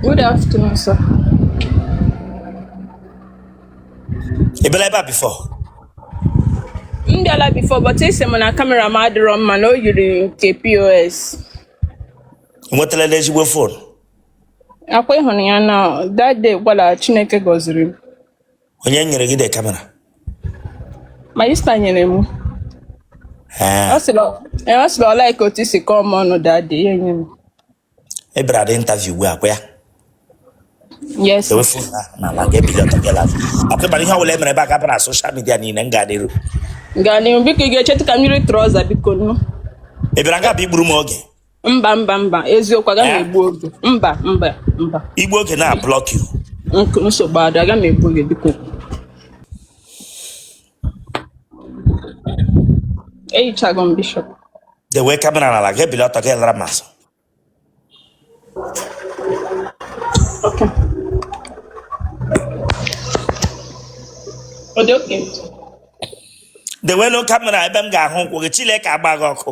Good afternoon, sir. Ị bịala ebe a before? M bịala before, but ị sị m na kamera m adịrọ mma na o yiri nke POS. Ị nwetala n'ezigbo fon? Akwa ịhụrụ ya na that day gwara Chineke gọziri m. Onye nyere gị de kamera? Ma sista nyere m. Ọ sịrị ọ- eh, ọ sịrị ọ like otu i si kọọ m ọnụ that day, ya enye m. ị bịara the interview ugbu a ọkwa ya Yes. dowe fon ha n'ala gị ebili ọtọ gị lafi ọkụ ịmara ihe ọbụla e mere ebe a ga-appear na soshal midia niile m gaa n'iru Gaa n'ihu biko ị ga-echetụ ka m yiri trọza biko nụ. ị bịara nga bụ igburu m oge Mba mba mba eziokwu aga m Eh? egbu oge. Mba mba mba. i gbuo oge na blọk yu Nk- Nsogbu adị aga m egbu oge biko. eyichago m bishọp dewe kamera n'ala gị ebili ọtọ gị lara m azụ okay ọ dị oke dewe nụ kamera ebe m ga-ahụ ụkwụ gị chileke agba gị ọkụ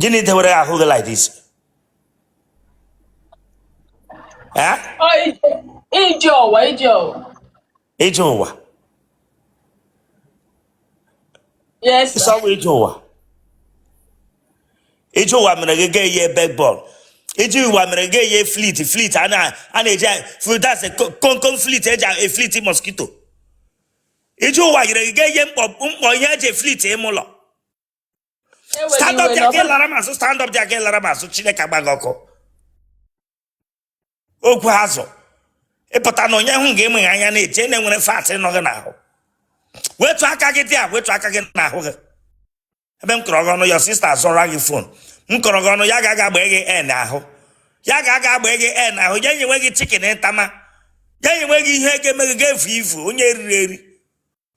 gịnị dewere ahụ gị like this Eh? Ọ ije- ije ụwa ije ụwa ije ụwa yes sir. sọwa ije ụwa ije ụwa mere gị ga eye bekbọl ije ụwa mere gị eye flit flit a na- a na-eji flit as a co- komkom flit eji eflit mosquito ije ụwa mere gị ga eye mkpọ mkpọ ihe eji eflit ime ụlọ stand up there gị lara m azụ stand up there gị lara m azụ chineke agba gị ọkụ ogwu azụ ịpụta na onye hụ gị emeghe anya na-eche na enwere fat nọ gị n'ahụ wetu aka gị there wetu aka gị n'ahụ gị ebe m kọrọ gị ọnụ ya sista azọra gị fon m kọrọ gị ọnụ ya ga-aga agba gị en ahụ ya ga-aga agba gị en ahụ ya enyewe gị chikin ntama ya enyewe gị ihe ga-eme gị ga-evu ivu onye e riri eri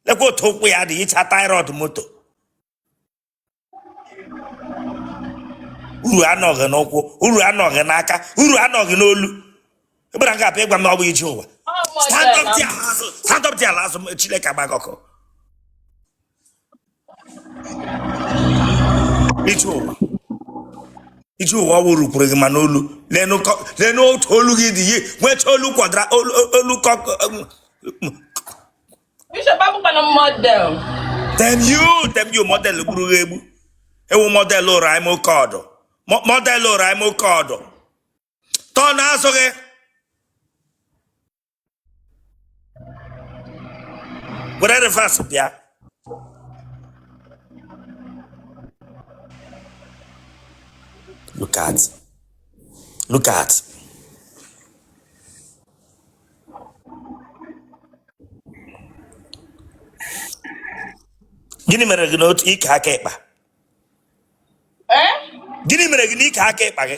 lekwa otu ụkwụ ya dị ịcha tie rod moto uru anọghị n'ụkwụ uru anọghị n'aka uru anọghị n'olu ịgbara nke apụ ịgwa m na ọ bụ ije ụwa stand up there, laa azụ. Stand up there, laa azụ. Chileke agba gị ọkụ. ije ụwa ije ụwa ọ wụrụ kwuru gị ma n'olu lee nụ otu olu gị dị yi nwecha olu kwadara olu olu ọkụkọ Bishop abụkwa m model damn you damn you model gburu gị egbu ewu model ụrụ anyị ma oke ọdụ Mo- model ụrụ anyị ma oke ọdụ turn azụ gị were reverse bịa look at look at gịnị mere gị n'otu ike aka ịkpa Eh? gịnị mere gị n'ike aka ịkpa gị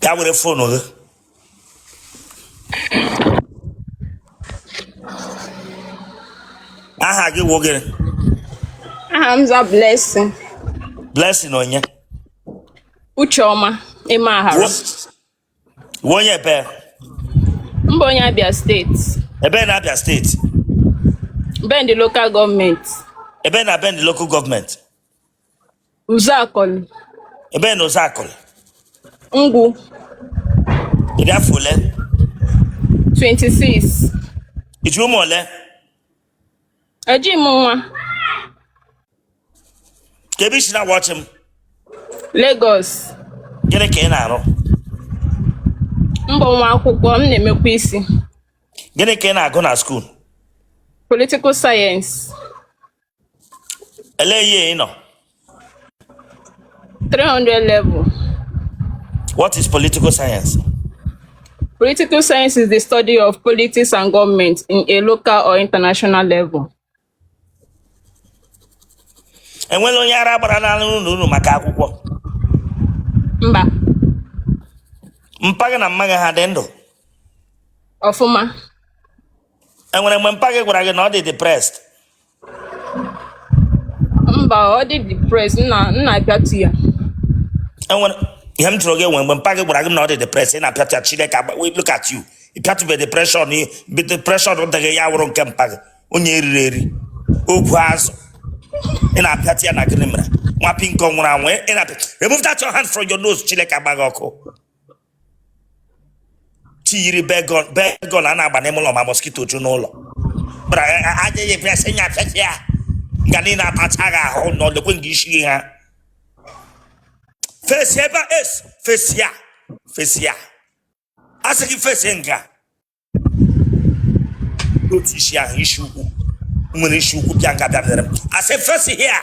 bịa were fon gị aha gị wụ gịnị ana m aza blessing blessing onye ucheọma ịma ahara Wo- Ị wụ onye ebe? M bụ onye Abia steeti. Ebe na Abia steeti? Bende local government. Ebe na Bende local government? Uzakol. Ebe na Uzakol? Ngwu. Ị dị afọ ole? 26. Ị ji ụmụ ole? Eji m nwa. Kee ebe i si na-awatch m? Lagos. Gịnị ka ị na-arụ? M bụ nwa akwụkwọ, m na-emekwa isi. Gịnị ka ị na-agụ na skuul? Political science. Elee year ị nọ? 300 level. What is political science? Political science is the study of politics and government in a local or international level. enwere onye ara gbara n'ala unu unu maka akwụkwọ Mba, mpa gị na mma gị ha dị ndụ ọfụma. enwere mgbe mpa gị gwara gị na ọ dị depressed mba ọ dị depressed m na m na-apịatụ ya enwere ihe m jụrụ gị enwe mgbe mpa gị gwara gị na ọ dị depressed ị na-apịatụ ya chineke agba- we look at you ị pịatụbe depression ị- be- depression dịghị ya wụrụ nke mpa gị onye eriri eri ogwu azụ ị na-apịatụ ya na gịnị mere nwa pinko nwụrụ anwụ ị na-apịa remove that your hand from your nose chineke agba gị ọkụ chi yiri Baygon Baygon a na-agba n'ime ụlọ ma mosquito ju n'ụlọ bara aja ya ebia sị ya afefe ya nga niile atacha gị ahụ na olekwe nga isi gị ha face ebe a es face ya face ya a sị gị face nga otu isi ahụ isi ukwu were isi ukwu bịa nga bịa bịara m. a sị face ya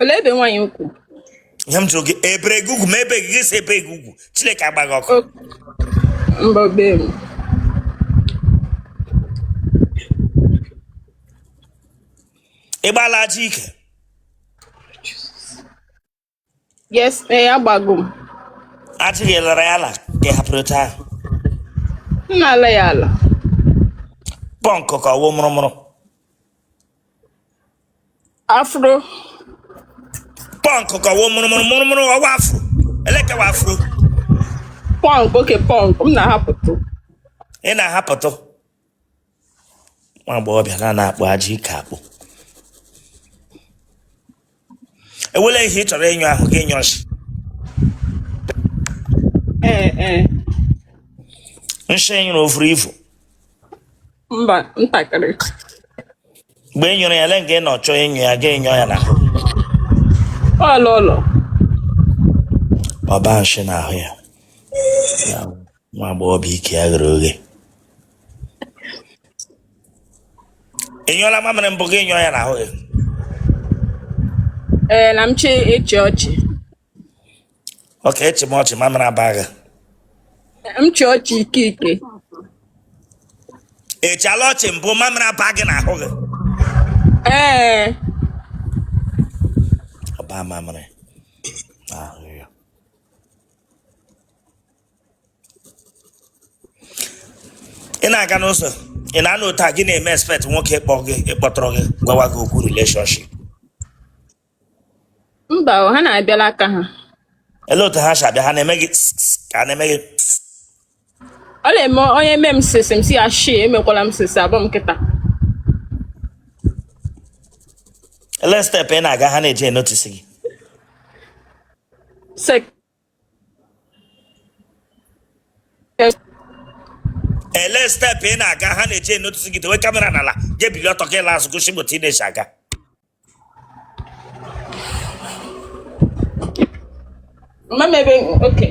Olee ebe nwaanyị ugwu? Ihe m jụrụ gị e bere gị ugwu ma ebe gị si ebe gị ugwu Chineke agbaa gị ọkụ. Mba be m. Ị gbaala ajị ike? Yes, ee eh, agbago m. Ajị gị lara ya ala ka ị hapụrụ otu ahụ. M na-ala ya ala. Pọnkụ ka ọ wụ mụrụmụrụ. afro pọnk ka ọ wụ mụrụmụrụ mụrụmụrụ ọ wụ afro elekewa afro pọnk okay pọnk m na-ahapụtụ ị na-ahapụtụ nwa agbọghọbịa na na-akpụ ajị ike akpụ e nwele ihe ị chọrọ ịnyụ ahụ gị nyụọ nshi ee ee nshi ị nyụrụ o vuru ivu mba ntakịrị mgbe ị nyụrụ ya le nke ị nọ chọọ ịnyụ ya gị nyụọ ya na ọlụ ụlọ ọba nshi n'ahụ ya nwa agbọghọbịa ike ya ghere oghe ị nyụọla mamịrị mbụ gị nyụọ ya n'ahụ gị ee na m chọ ịchị ọchị okay ị chịma ọchị mamịrị aba gị m chị ọchị ike ike ị chịla ọchị mbụ mamịrị aba gị n'ahụ gị ee ọba mamịrị n'ahụ gị ị na-aga n'ụzọ ị na-anụ otu a gị na-eme expect nwoke ịkpọ gị ịkpọtụrụ gị gwawa gị okwu relationship mba o, ha na-abịala aka ha ele otu ha si abịa ha na-eme gị ka ha na-eme gị ọ na-eme onye eme m sịsị m sị ya shị emekwala m sịsị abụ m nkịta ele step ị na-aga ha na-eji enotisi gị sek ele step ị na-aga ha na-eji enotisi gị dewe kamera n'ala gị bili ọtọ gị laa azụ gosi m otu ị na-esi aga Mama ebe okay.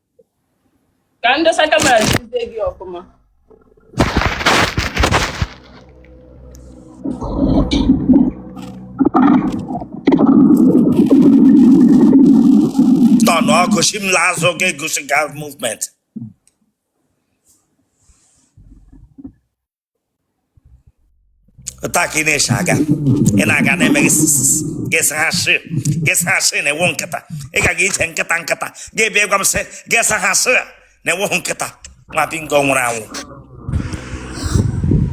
ka m dosa kamera jizie gị ọfụma tọnụ ọkụ sị m laa azụ ga gosi gị movement otu a ka ị na-esi aga ị na-aga na-eme gị sisisi gị sị ha sị gị sị ha sị na ị wụ nkịta ị ga gị ije nkịta nkịta gị bịa gwa m sị gị sị ha sị na ị wụghị nkịta nwa bingo nwụrụ anwụ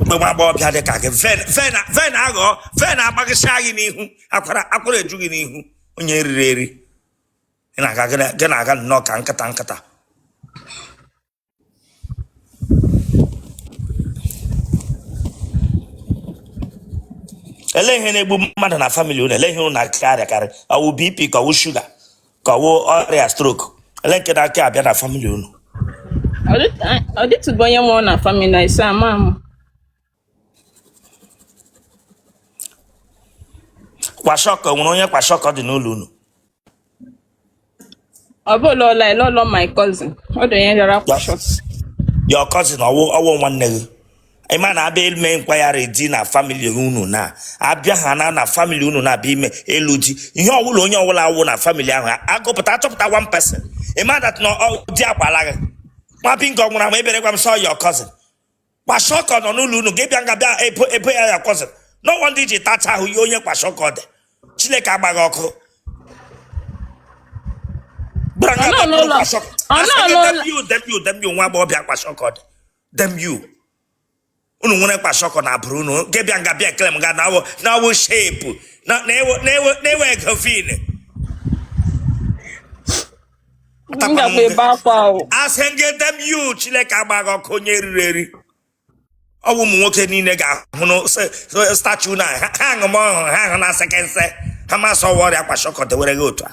mgbe nwa agbọghọbịa dị ka gị vein vein vein aghọọ vein agbagọsịa gị n'ihu akwara akwara eju gị n'ihu onye e riri eri gị na-aga gị na-aga nnọọ ka nkịta nkịta ele ihe na-egbu mmadụ na famili unu ele ihe unu na-akarị akarị ọ wụ bp ka ọ wụ shuga ka ọ wụ ọrịa stroke ele nke na-aka abịa na famili unu ọ dịtụbụ onye nwụrụ na famili na ise ama m kwashọkọ nwere onye kwashọkọ dị n'ụlọ unu ọ bụ ụlọ ọla ele ụlọ my cousin ọ dị onye rịara kwashọkọ your cousin ọ wụ ọ wụ nwanne gị ị ma na a bịa ime nkwagharị di na famili unu na abịa ha na na famili unu na abịa ime elu di ihe ọ wụla onye ọ wụla awụ na famili ahụ a gụpụta a chọpụta one person ị ma that na ọ- di akwaala gị nwa bingo nwụrụ anwụ ebere gwa m sị ọ your cousin kwashọkọ nọ n'ụlọ unu gị bịa nga bịa ebe ya ya kwọsịrị n'ọnwa ndị ji tacha ahụ ihe onye kwashọkọ dị chineke gbaa gị ọkụ nwa agbọghọbịa kwashọkọ dị damn you unu nwere kwashọkọ n'agbụrụ unu gị bịa nga bịa ekele m ga na ọ wụ shape na-ewe ego vein m gakwa ebe akwa ahụ a sị gị damn you chineke gbaa gị ọkụ onye e riri eri ọ bụ ụmụ nwoke niile ga-ahụ na se- se- statu na ha ha aṅụ m ọhụrụ ha ahụ na sekense ha ma sị ọ wụ ọrịa kwashọkọ dewere gị otu a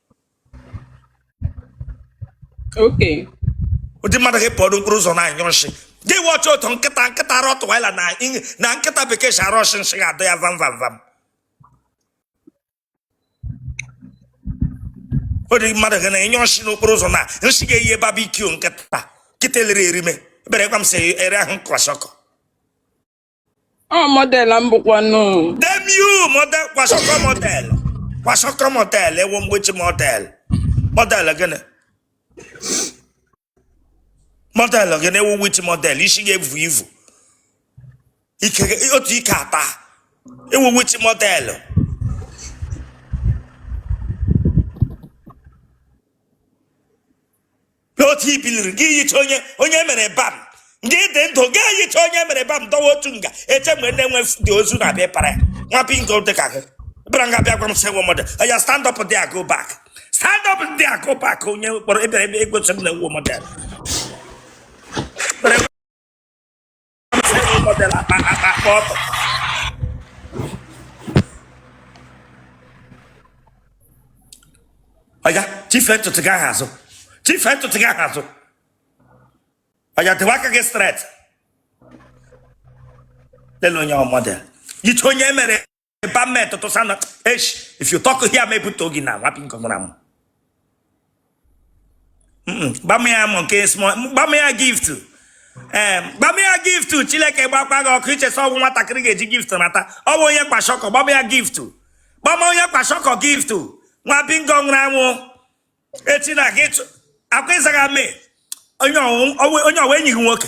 Okay. ụdị mmadụ gị pụọ n'okporo ụzọ na-anyụ nsị gị wee ọchị otu nkịta nkịta arụ ọtụwaila na ing- na nkịta bekee si arụ ọsị nsị ga-adọ ya vam vam vam ụdị mmadụ gị na-anyụ nsị n'okporo ụzọ na nsị ga-eyi barbecue nkịta nkịta elere erime ebere gwa m sị ị rịahụ kwashọkọ ọ model m bụkwanụ damn you model kwashọkọ model kwashọkọ model ị wụ which model model gịnị model gịnị ị wụ which model isi gị evu ivu ike otu ike ata ị wụ which model n'otu i biliri gị yicha onye onye e mere embalm gị dị ndụ gị yicha onye e mere embalm dọwa otu nga eche mgbe ndị nwe ozu na-abịa ịpara ya nwa bingo dị ka gị bịara nga bịa gwa m sị nwe mmadụ ya stand up there go back stand up there go back onye kpọrọ ebere ebe egosi m na nwe mmadụ oya chife ntutu gị ahụ azụ chife ntutu gị ahụ azụ oya dọwa aka gị straight lele onye model ya yicha onye e mere ba mme tụtụ sana esh if you talk here ma ebute ogi na nwapị nke nwụrụ anwụ gba m ya mọ nke small gba m ya gift ee gba m ya gift chineke gbakwa gị ọkụ i che sị ọ wụ nwatakịrị ga-eji gift nata ọ bụ onye kwashiorkor gba m ya gift gba m onye kwashiorkor gift nwa bingo nwụrụ anwụ echi na gị chụ- akwa ịzaga mee onye ọwụ- onye wụ enyi gị nwoke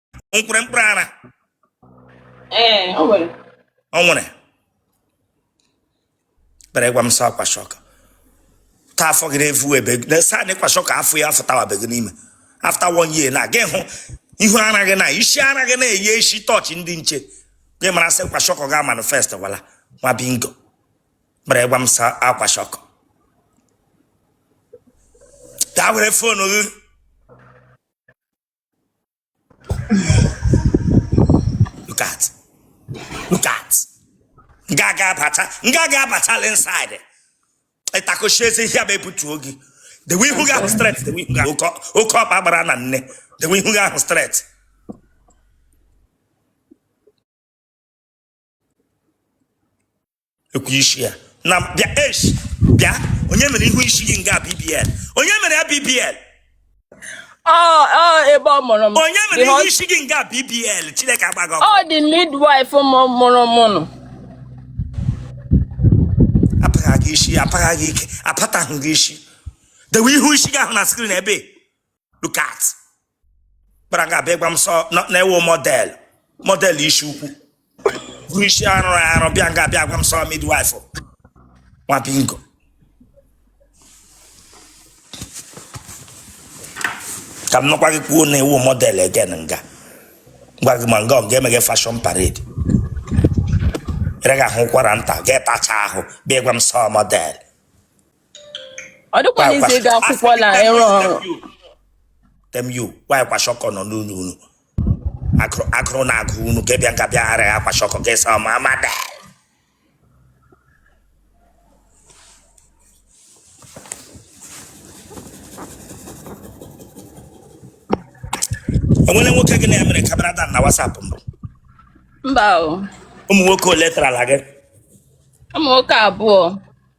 o nwere mkpụrụ ara ee o nwere ọ nwere bịa gwa m sị ọ kwashiorkor ta afọ gị na-efu ebe na saa na kwashiorkor afọ ya afọ tawabe gị n'ime after one year na gị hụ ihu ara gị na isi ara gị na-eyi isi torch ndị nche gị mara sị kwashiorkor ga manifest wala nwa bingo bịa gwa m sị ọ kwashiorkor ta were phone gị look at look at nga aga abata nga aga abatala inside ịtakochi ezi ihe bụ ebutuo gị dewe ihu gị ahụ straight dewe ihu gị ahụ oke oke ọkpa gbara na net dewe ihu gị ahụ straight ekwu isi ya na bịa esh bịa onye mere ihu isi gị nga BBL onye mere ya BBL ọ ọ ebe ọ mụrụ m onye mere The ihu hos- isi gị nga BBL chineke agba gị ọkụ ọ dị midwife m mụrụ m nụ apagha gị isi apagha gị ike apataghị gị isi dewe ihu isi gị ahụ na screen ebe look at kpara nga a bịa gwa m sọ na- na ị wụ model model isi ukwu bụrụ isi arụ arụ bịa nga a bịa gwa m sị ọ midwife nwa bingo ka m nọkwa gị kwuo na ị wụ model again m ga-agwa gị ma nga ọ ga-eme gị fashion parade ị gaghị ahụ ụkwara nta ga-etacha ahụ bịa gwa m sị ọ model ọ dịkwana easy ịga akwụkwọ na ịrụ ọrụ temu nwanyị kwashiorkor nọ n'unu unu Agụrụ- agụrụ na-agụ unu ka bịa nka bịa ara ya kwashiorkor ka ịsa ma amada enwere nwoke gị na ya mere camera down na WhatsApp mbụ mba o ụmụ nwoke ole tarala gị ụmụ nwoke abụọ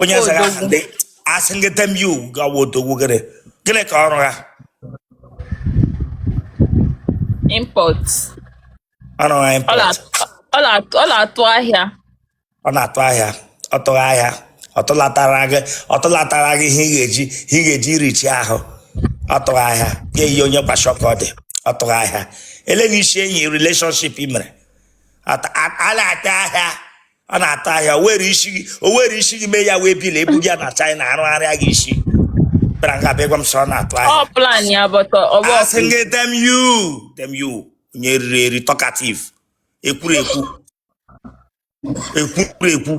onye eze ha ndị asị gị damn you gawa odogwu gịnị gịnị ka ọrụ ha import ọrụ ha import ọ na-atụ ahịa ọ na-atụ ahịa ọ tụghị ahịa ọ tụlatara gị ọ tụlatara gị ihe ị ga-eji ihe ị ga-eji richi ahụ ọ tụghị ahịa ya eyi onye kwashiorkor ọ tụghị ahịa ele na isi enyi relationship i mere ọ na-atụ ahịa ọ na-atụ ahịa o were isi gị o were isi gị mee ya waybill ebuga ya na China arụgharịa gị isi bịara nga bịa gwa m sị ọ na-atụ ahịa Ọ plan ya but ọ bụ asị gị damn you damn you onye riri eri talkative ekwurekwu ekwurekwu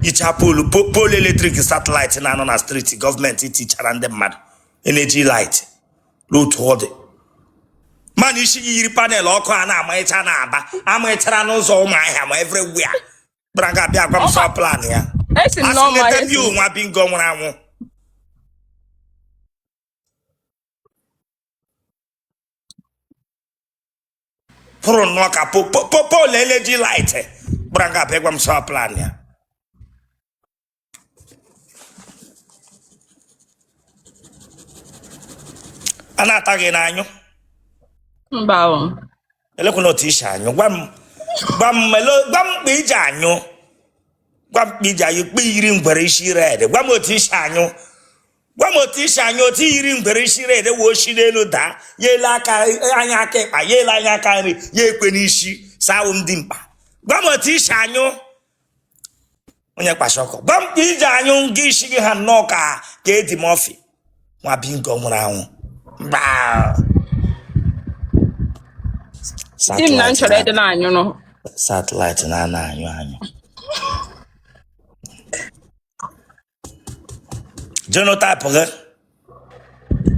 ị ha pole po- pole electric satellite na-anọ na street gọọmenti tichara ndị mmadụ energy light n'otu ọ dị mana isi gị yiri panel ọkụ a na-amaghịcha n'Aba amaghịchara n'ụzọ Ụmụahịa ma everywhere bịara nga bịa gwa m sị ọ plan ya esi m asị n'ọma leta bi nwa bingo nwụrụ anwụ pụrụ nnọọ ka po- pole energy light bịara nga bịa gwa m sị ọ plan ya a na-ata gị ị na-anyụ mba o elekwana otu i si anyụ gwa m gwa m melo- gwa m kpa i ji anyụ gwa m kpa i ji anyụ kpa i yiri ngwere isi red gwa m otu i si anyụ gwa m otu i si anyụ otu i yiri ngwere isi red wee o si n'elu daa ya ele anya aka ịkpa ya ele anya aka nri ya ekwe n'isi sị a wụ m dimkpa gwa m otu i si anyụ onye kwashiorkor gwa m ka i ji anyụ nke isi gị ha nnọọ ka ka Eddie Murphy nwa bingo nwụrụ anwụ mba di m na m chọrọ ịdị na-anyụrụ satellite na- na-anyụ anyụ genotype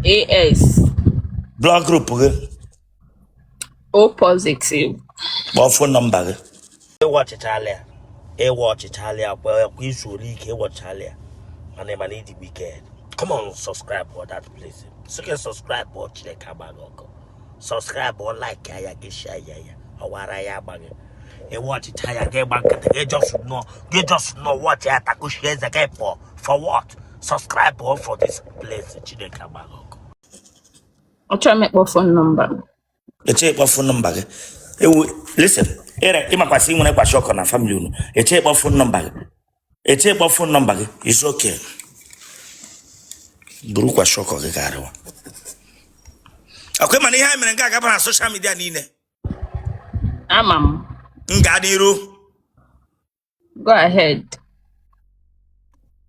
gị AS blood group gị O positive kpọọ phone number gị ịwa ọchịcha alịa ịwa ọchịcha alịa kwa kwa izu ole ike ịwa ọchịcha alịa mana ị mana ịdịgbu ike come on subscribe for that place sị gị subscribe for chineke agba gị ọkụ subscribe or like ya gị share ya ya ọwara ya agba gị ịwọchịcha ya gị gba nkịtị gị just nọ gị just nọ wọchị ya takuchie eze gị pụọ for what subscribe or for this place chineke agba gị ọkụ achọrọ m ịkpọ fon nọmba m echi kpọ fon nọmba gị ewu listen ị makwa sị i nwerekwa shọkọ na famili unu echi kpọ fon nọmba gị echi kpọ fon nọmba gị izu oke burukwa shọkọ gị ga-arịwa akwa mana ihe anyị mere nga a ga-aba na soshal midia niile ama m m gaa n'iru go ahead